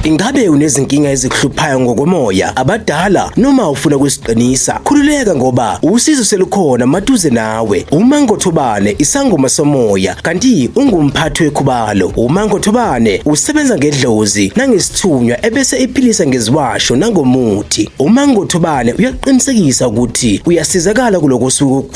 Ingabe unezinkinga ezikuhluphayo ngokomoya abadala noma ufuna ukusiqinisa? Khululeka ngoba usizo selukhona maduze nawe. UMango Thobane isangoma somoya kanti ungumphathi wekhubalo. UMango Thobane usebenza ngedlozi nangesithunywa ebese iphilisa ngeziwasho nangomuthi. UMango Thobane uyaqinisekisa ukuthi uyasizakala kuloko suku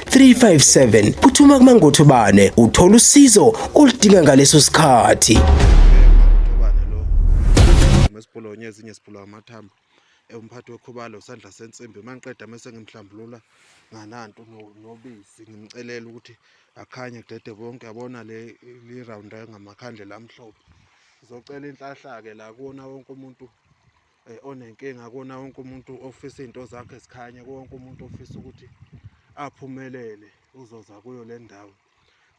357 phuthuma kumangothobane uthola usizo oludinga ngaleso sikhathi esibhulonye ezinye sibhula amathambo umphathi wekhubalo usandla sensimbi uma ngiqeda mese ngimhlambulula ngananto nobisi ngimcelela ukuthi akhanye kudede bonke yabona le li-round ngamakhandlela amhlophe ngizocela inhlahla-ke la kuwona wonke umuntu eh, onenkinga kona wonke umuntu ofisa izinto zakhe zikhanye wonke umuntu ofisa ukuthi aphumelele uzoza kuyo le ndawo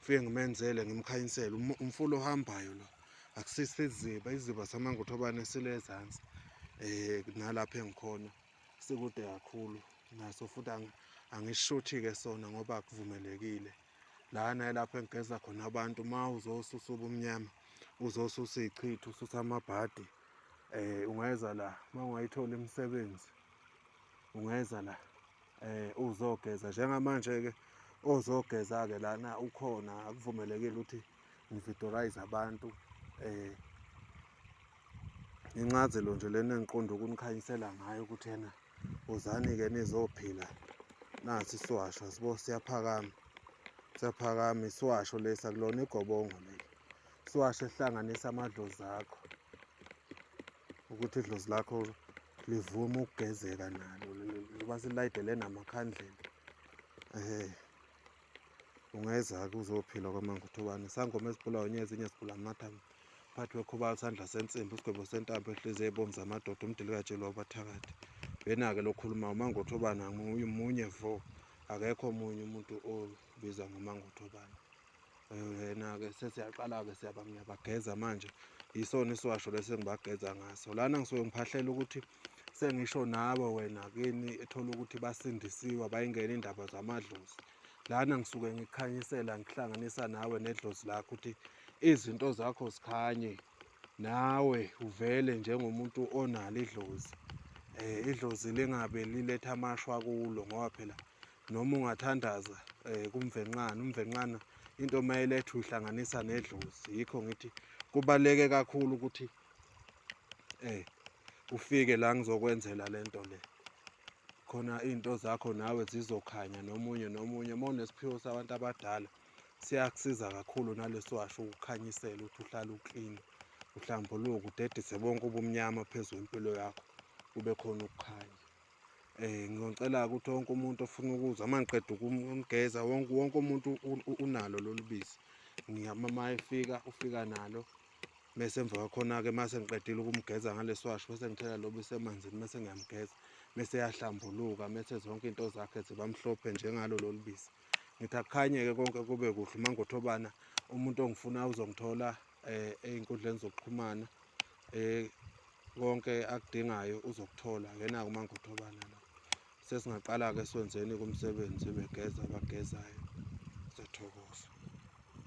fike ngimenzele ngimkhanyisele umfula ohambayo lo akusisi iziba iziba samangothobane sile ezansi eh nalapha engikhona sikude kakhulu naso futhi angishuthi ke sona ngoba akuvumelekile lana elapho engigeza khona abantu uma uzosusa ubumnyama uzosusa iy'chitho ususa amabhadi um ungeza la uma ungayitholi imisebenzi ungeza la um uzogeza njengamanje-ke ozogeza-ke lana ukhona akuvumelekile ukuthi ngividorayize abantu um incazelo nje lena engiqonda ukunikhanyisela ngayo ukuthi yena Wozani-ke nizophila nasi isiwasho sibo siyaphakama siyaphakama isiwasho lesi akulona igobongo leli isiwasho esihlanganisa amadlozi akho ukuthi idlozi lakho livume ukugezeka nalo liba silayidele namakhandlela um ungeza-ke uzophila kwamanguthubane sangoma ezibulawa nye ezinye zigula amathambo phathi wekhubala isandla sensimbi isigwebo sentambo ehliziyo ebomu zamadoda umdilikatshelwa ubathakathi yena-ke lokhuluma umangothobana munye vo akekho omunye umuntu obizwa ngomangothobana yena-ke sesiyaqala-ke siyaba ngiyabageza manje yisona isiwasho lesi engibageza ngaso lana ngisuke ngiphahlela ukuthi sengisho nawe wena kini ethola ukuthi basindisiwe bayingena indaba zamadlozi lana ngisuke ngikhanyisela ngihlanganisa nawe nedlozi lakho ukuthi izinto zakho zikhanye nawe uvele njengomuntu onalo idlozi eh idlozi lingabe liletha amashwa kulo ngoba phela noma ungathandaza eh kumvenqana umvenqana into mayeletha uhlanganisa nedlozi yikho ngithi kubaleke kakhulu ukuthi eh ufike la ngizokwenzela lento le khona izinto zakho nawe zizokhanya nomunye nomunye uma unesiphiwo sabantu abadala siyakusiza kakhulu naleso washo ukukhanyisela ukuthi uhlale uklini uhlambuluke udedise bonke ubumnyama phezu kwempilo yakho kube khona ukukhanya eh ngicela ukuthi wonke umuntu ofuna ukuzwa uma ngiqeda ukumgeza wonke wonke umuntu unalo lolu bisi ngiyama uma efika ufika nalo mese emva kwakhona-ke mase ngiqedile ukumgeza ngalesiwasho bese ngithela lobu isemanzini mese ngiyamgeza mese yahlambuluka mese zonke into zakhe zibamhlophe njengalo lolu bisi ngithi akukhanye-ke konke kube kuhle uma ngothobana umuntu ongifuna uzongithola um ey'nkundleni zokuxhumana um konke akudingayo uzokuthola ngena-ke uma ngothobana la sesingaqala-ke siwenzeni kumsebenzi begeza abagezayo siyathokoza